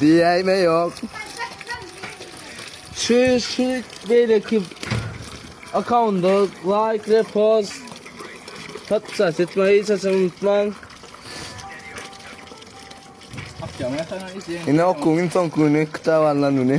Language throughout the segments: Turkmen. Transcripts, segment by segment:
Diýäýme ýok. Şu şu beýleki akkaunda like, repost, podpisat etmeyi hiç haçan unutmaň. Akşam ýatandan izleýin. Ine okuň soň güni kitap alnan güni.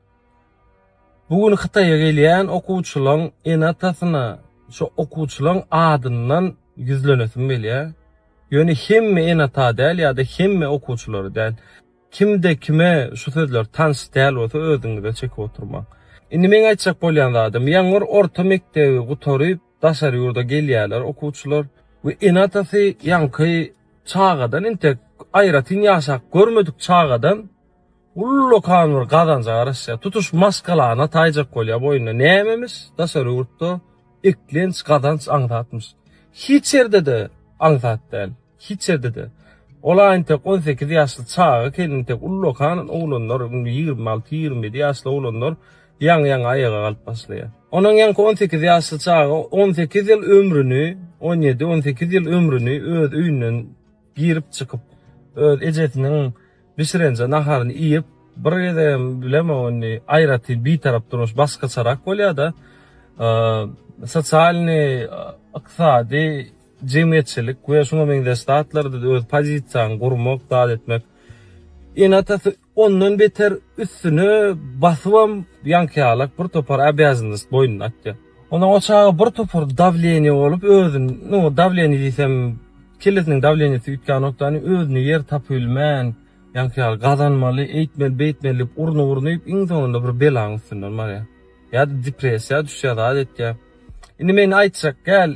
Bu gün Hytaýa gelýän okuwçylaň ene-atasyna şo okuwçylaň adyndan ýüzlenesim gelýär. Ýöne hemme ene-ata däl ýa-da hemme okuwçylary däl. Kimde kime şu sözler tans däl bolsa özüňize çekip oturmaň. Indi meň aýtjak bolýan zadym, ýangyr orta mekdebi gutaryp daşary ýurda gelýärler okuwçylar we ene-atasy ýaňky çagadan intek aýratyn ýaşap görmedik çagadan, Ullakan bir gazanja garaşýar. Tutuş maşgalany taýjak bolýar boýnuna. Nämemiş? Daşary ýurtda eklenç, gazanç aňsatmyş. Hiç ýerde-de aňsat däl. Hiç ýerde-de. Ol aýyntek on sekiz ýaşly çaga kelintek ullakan oglanlar, indi ýigrimi alty, ýigrimi ýedi ýaşly oglanlar ýaňy-ýaňy aýaga galyp başlaýar. Onuň ýaňky on sekiz ýaşly çaga on sekiz ýyl ömrüni, on ýedi, on sekiz ýyl ömrüni öz öýünden, Girip çykyp öz ejesiniň bişirenje naharyny iýip bir gezegem bilemok indi aýratyn bitarap durmuş başgaçarak bolýada sosialny yksady jemgyýetçilik we şuňa meňzeş zatlarda öz pozisiýaňy gurmak zat etmek ene atasy Ondan beter üstüne basybam ýaňkyýalak bir topar obýazannost boýnuna atýar. Ondan o çaga bir topar dawleniýe bolup özün, nu, dawleniýe diýsem, kellesiniň dawleniýesi üýtgänokdany özüne ýer tapybilmän, ýaňkyýaly gazanmaly, eýtmeli, beýtmeli diýip urnup-urnup iň soňunda bir belaň üstünden barýar. Ýa-da depressiýa düşýär, zat etýär. Indi men aýtjak gel,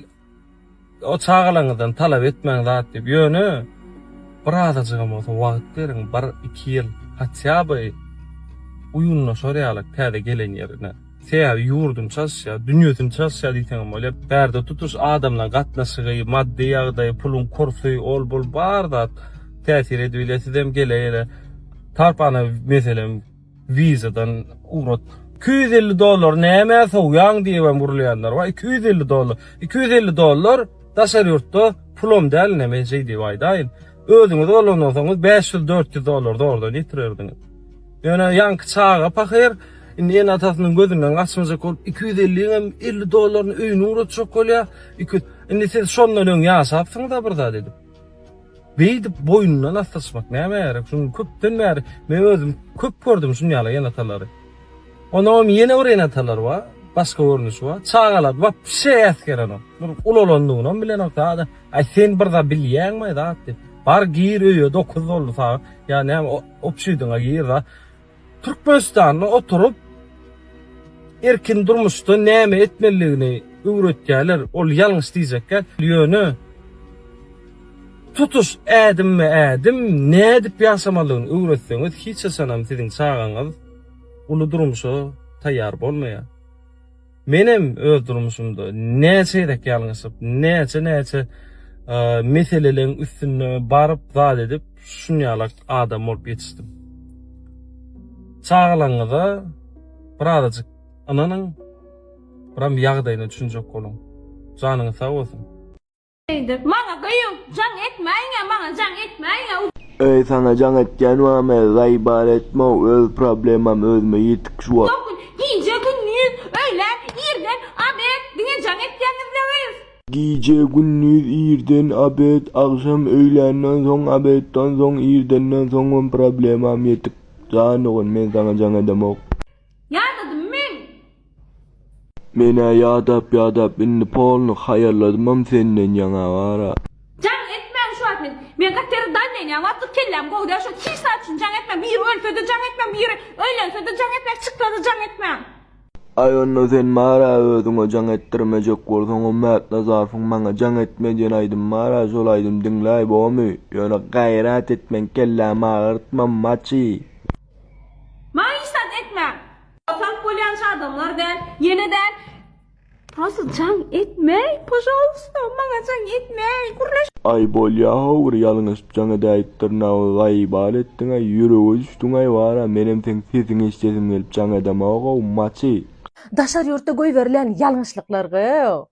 O çagalaryňyzdan talap etmäň zat diýip, ýöne bir azajygam bolsa wagt beriň, bir, iki ýyl hatýa by uýunlaşar ýaly täze gelen ýerine. Sebäbi ýurduny çalyşýar, dünýesini çalyşýar diýseňem bolýar. Bärde tutuş adamlaryň gatnaşygy, maddy ýagdaýy, puluň kursy, ol bul bar zat täsir edibiler. Sizem gele-gele tarpana meselem. Vizadan ugrat. Iki ýüz elli dollar nämä sowýaň diýibem gürleýänler bar. Iki ýüz elli dollar. Iki ýüz elli dollar daşary ýurtda pulum däl ine men şeý diýip aýdaýyn. Özüňiz bolandan soň bäş ýüz dört ýüz dollar zordan ýetirerdiňiz. Ýöne ýaňky çaga pahyr indi ene atasynyň gözünden gaçmajak bolup iki ýüz elli ýiňem elli dollaryny öýüne ugratjak bolýar. Iki indi siz şondan öň ýaşapsyňyz-a bir zat edip. Beýdip boýnundan asdyryşmak nämä gerek? Şuny köpden bäri men özüm köp gördüm şuny ýaly enatalary. Onam ýene bir enatalar bar, başga görnüşi bar. Çagalar wapşe äsgerenok. Bir ulalandygynam bilenok sada. Aý sen bir zat bilýäňmi zat diýip. Bar gir öýe 9 boldy sagat. Ýa näme opşidiňe gir da. Türkmenistanda oturyp erkin durmuşda näme etmelidigini öwretýärler, ol ýalňyş diýjekkä, ýöne tutuş ädimme-ädim nädip ýaşamalyny öwretseňiz hiç haçanam siziň çagaňyz uly durmuşa taýýar bolmaýar. Menem öz durmuşymda näçe gezek ýalňyşyp, näçe-näçe meseleleriň üstünde baryp zat edip, şunýalak adam bolup ýetişdim. Çagalaryňyza birazajyk ynanyň, biram ýagdaýyna düşünjek boluň. Janyňyz sag bolsun! Eýdir. Maňa gyýw, jaň etmäýiňä, maňa jaň etmäýiňä. Öý saňa jaň etýän wame, zaý bar etmow, öz problemam özüme ýetik şu wagt. Dokun, gije, gündiz, öýlän, irden, abed, diňe jaň etýäňizle gyýw. Gije, gündiz, irden, abed, agşam, öýländen soň, abetdan soň, irdenden soňam problemam ýetik, jan dogan, men saňa jaň edemok. Ýadadym men! Men-ä ýadap-ýadap indi polny haýalladymam senden ýaňa wara. Jaň etmäň şu wagt men. Men gaty ýere daýnaýynýa wagtlyk kelläm gowy däl şo tiz sat üçin jaň etmäň biri ölse-de jaň etmäň biri öýlense-de jaň etmäň çyksa-da jaň etmäň. Aý onda sen mara özüňe jaň etdirmejek bolsaňam Mätnazarowyň maňa jaň etme diýen aýdymy bar-a şol aýdymy diňläý bomy ýöne gaýrat etmäň kellämi agyrtma maçy. Maňa işdat etmäň. Oturyp bolýança adamlar däl, ýene däl. Prosta jaň etmäý, požalysta, maňa jaň etmäý, gürleş. Aý bolýahow bir ýalňyşyp jaň edäýip dyrnagy gaýy bal etdiňaý, ýürege düşdüňaý bara, menem seň sesiňi eşdesim gelip jaň edemoghow, maçy. Daşary ýurtda goýberilýän ýalňyşlyklargow.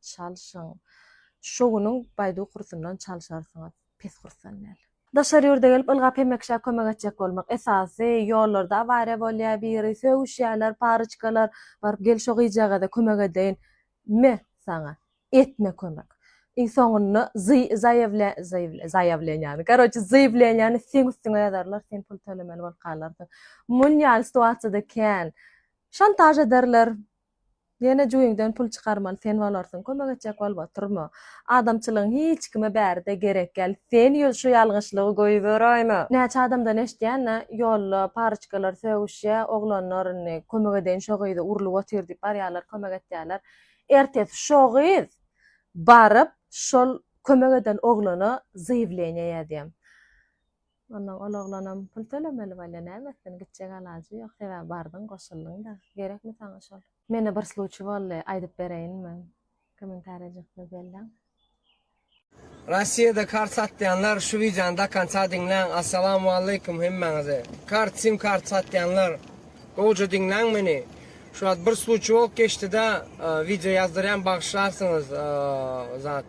Çalşyň. Şo günüň Baidu kursundan çalşarsyňyz. Pes kursdan däl. Daşary ýurda gelip ylgap hemme kişä kömek etjek bolmak esasy, ýollarda awariýa bolýa biri, sögüşýäler, paryçkalar, baryp gel şo gyjagaza kömek edeýin. Me, saňa. Etme kömek. Iň soňunda zy, zaýewle, zaýewle, zaýawleniýany, karoçe zywleniýany seň üstüňe ýazarlar, sen pul tölemeli bolup galarsyň. Mun ýaly situasiýada kän. Şantaž ederler, Ýene jübiňden pul çykarman sen bolarsyň kömek etjek bolup oturma. Adamçylygyň hiç kime bäride gerek ýal sen ýöz şu ýalňyşlygy goýberäýme. Näçe adamdan eşdýänä ýolda paryçkalar sögüşýä oglanlar indi kömek edeýin şo gyzy urlup otyr diýip barýalar kömek etýäler ertesi şo gyz baryp şol kömek eden oglana zaýewleniýe ýazýa Onnoň ol oglanam pul tölemeli bolýa näme etsin gitjek alajy ýok sebäbi bardyň goşuldyňda gerekmi saňa şol. Mende bir sluçi boldy aýdyp bereýinmi komentariýa jykdy belläň. Rossiýada kart satýanlar şu wideony dokonca diňläň Assalamualeykum hemmäňize kart sim kart satýanlar gowja diňläň meni şu wagt bir sluçi bolup geçdida wideo ýazdyrýan bagyşlarsyňyz zat.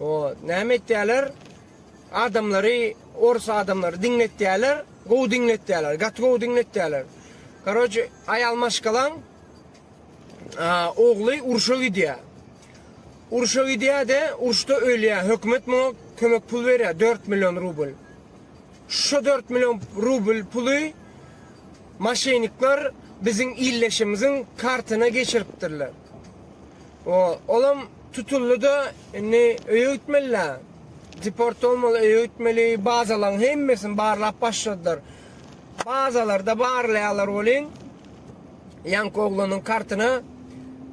O näme etýäler adamlary orus adamlary diňletýäler gowy diňletýäler gaty gowy diňletýäler karoce aýal maşgalaň ogly urşa gidýä urşa gidýä de urşda ölýä hökümet muňa kömek pul berýä 4 million rubl şu 4 million rubl puly maşenikler biziň illeşimiziň kartyna geçiripdirler Olam tutuldyda indi öýe gitmelidä. Deport bolmaly, öýe gitmeli. Bazalaň hemmesini barlap başladylar. Bazalarda barlaýarlar welin ýaňky oglanyň kartyna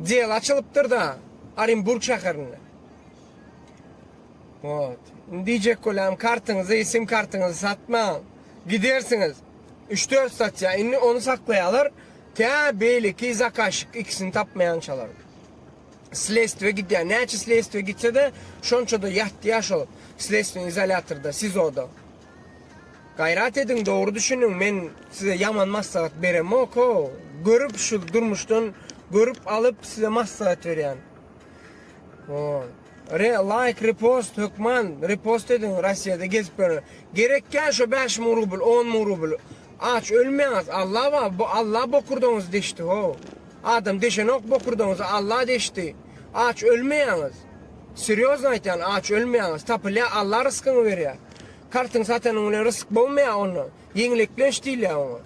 del açylypdyrda Orenburg şäherinde. Wot. Indi diýjek bolam kartyňyzy, sim kartyňyzy satmaň. Gidersiňiz. Üç-dört satýa. Indi ony saklaýarlar. Tä beýleki zakazşik ikisini tapmaýançalar slestwe gidýär. Näçe slestwe gitse-de, şonça-da ýatýar şol slestweniň izolýatorda, SIZO-da. Gaýrat ediň, dogry düşüniň, men size ýaman maslahat beremok-ow. Görüp, şu durmuşdan görüp alyp, size maslahat berýän. Hoo. Re laýk repost hökman repost ediň Rossiýada gezip ýören gerekýa şo bäş müň rubl on müň rubl aç ölmeýäňiz Alla bar bu Alla bokurdagyňyzy deşdi how adam deşenok bokurdagyňyzy Alla deşdi aç ölmeýäňiz serýozno aýtýan aç ölmeýäňiz tapylýa Alla ryskyňy berýä kartyň satanyň bilen rysyk bogmaýa ondan ýeňileklenç diýilýä oňa.